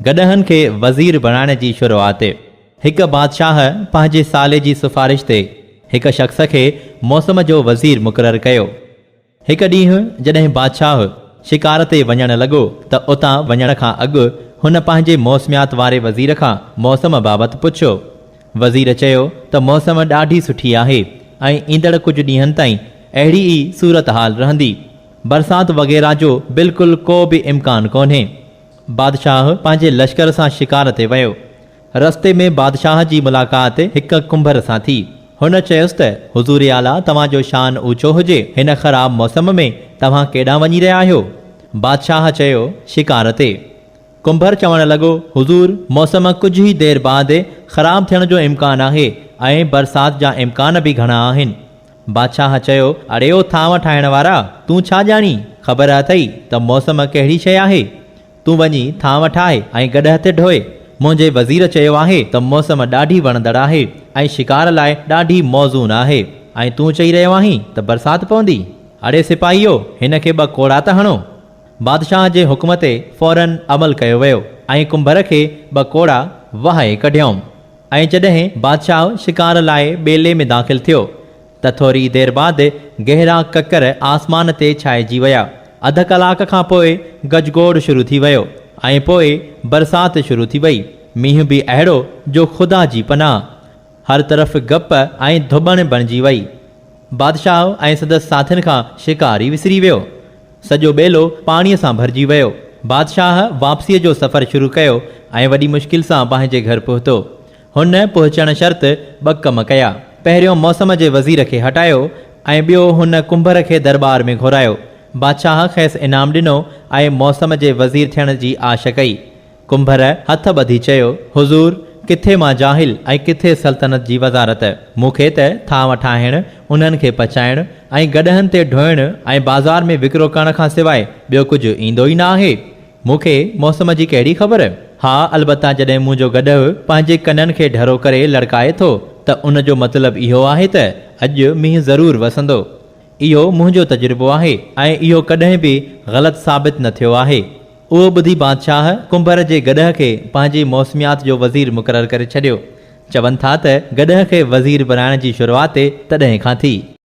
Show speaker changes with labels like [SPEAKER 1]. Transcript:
[SPEAKER 1] گڏهن کي وزير بڻائڻ جي شروعات. هڪ بادشاهه پنهنجي سالي جي سفارش تي هڪ شخص کي موسم جو وزير مقرر ڪيو. هڪ ڏينهن جڏهن بادشاهه شڪار تي وڃڻ لڳو ته اتان وڃڻ کان اڳ هن پنهنجي موسميات واري وزير کان موسم بابت پڇيو. وزير چيو ته موسم ڏاڍي سٺي آهي ۽ ايندڙ ڪجهه ڏينهن تائين اهڙي ئي صورتحال رهندي. برسات وغيره جو بلڪل ڪو به امڪان ڪونهي. بادشاهه پنهنجي لشڪر سان شڪار تي ويو. رستي ۾ بادشاهه جي ملاقات هڪ ڪنڀر سان ٿي. هن چيس ته حضور اعليٰ توهان جو شان اوچو هجي، هن خراب موسم ۾ توهان ڪيڏانهن وڃي رهيا آهيو؟ بادشاهه چيو، شڪار تي. ڪنڀر چوڻ لڳو، حضور! موسم ڪجهه ئي دير بعد خراب ٿيڻ جو امڪان آهي ۽ برسات جا امڪان به گهڻا آهن. بادشاهه چيو، اڙيو ٿانو ٺاهڻ وارا! تون ڇا ڄاڻين؟ خبر اٿئي ته موسم ڪهڙي شيء آهي؟ تون وڃي ٿانو ٺاهه ۽ گڏهه تي ڍوء. منهنجي وزير چيو آهي ته موسم ڏاڍي وڻندڙ آهي ۽ شڪار لاء ڏاڍي موزون آهي ۽ تون چئي رهيو آهين ته برسات پوندي؟ اڙي سپاهيو، هن کي ٻه ڪوڙا ته هڻو! بادشاهه جي حڪم تي فوراً عمل ڪيو ويو ۽ ڪنڀر کي ٻه ڪوڙا وهائي ڪڍيائون. ۽ جڏهن بادشاهه شڪار لاء ٻيلي ۾ داخل ٿيو ته ٿوري دير بعد گهرا ڪڪر آسمان تي ڇائجي ويا. اڌ ڪلاڪ کان پوء گجگوڙ شروع ٿي ويو ۽ پوء برسات شروع ٿي وئي. مينهن به اهڙو جو خدا جي پناهه. هر طرف گپ ۽ ڌٻڻ بڻجي وئي. بادشاهه ۽ سندس ساٿين کان شڪار ئي وسري ويو. سڄو ٻيلو پاڻيء سان ڀرجي ويو. بادشاهه واپسيء جو سفر شروع ڪيو ۽ وڏي مشڪل سان پنهنجي گهر پهتو. هن پهچڻ شرط ٻه ڪم ڪيا. پهريون موسم جي وزير کي هٽايو ۽ ٻيو هن ڪنڀر کي درٻار ۾ گهرايو. بادشاهه کيس انعام ڏنو ۽ موسم جي وزير ٿيڻ جي آش ڪئي. ڪنڀر هٿ ٻڌي چيو، حضور! ڪٿي مان جاهل ۽ ڪٿي سلطنت جي وزارت. مون کي ته ٿانء ٺاهڻ، انهن کي پچائڻ ۽ گڏهن تي ڍوئڻ ۽ بازار ۾ وڪرو ڪرڻ کان سواء ٻيو ڪجهه ايندو ئي نه آهي. مون کي موسم جي ڪهڙي خبر؟ ها البته جڏهن منهنجو گڏهه پنهنجي ڪنن کي ڍرو ڪري لڙڪائي ٿو ته ان جو مطلب اهو آهي ته اڄ مينهن ضرور وسندو. اهو منهنجو تجربو آهي ۽ اهو ڪڏهن به غلط ثابت نه ٿيو آهي. اهو ٻڌي بادشاهه ڪنڀر جي گڏهه کي پنهنجي موسميات جو وزير مقرر ڪري ڇڏيو. چون ٿا ته گڏهه کي وزير بنائڻ جي شروعات تڏهن کان ٿي.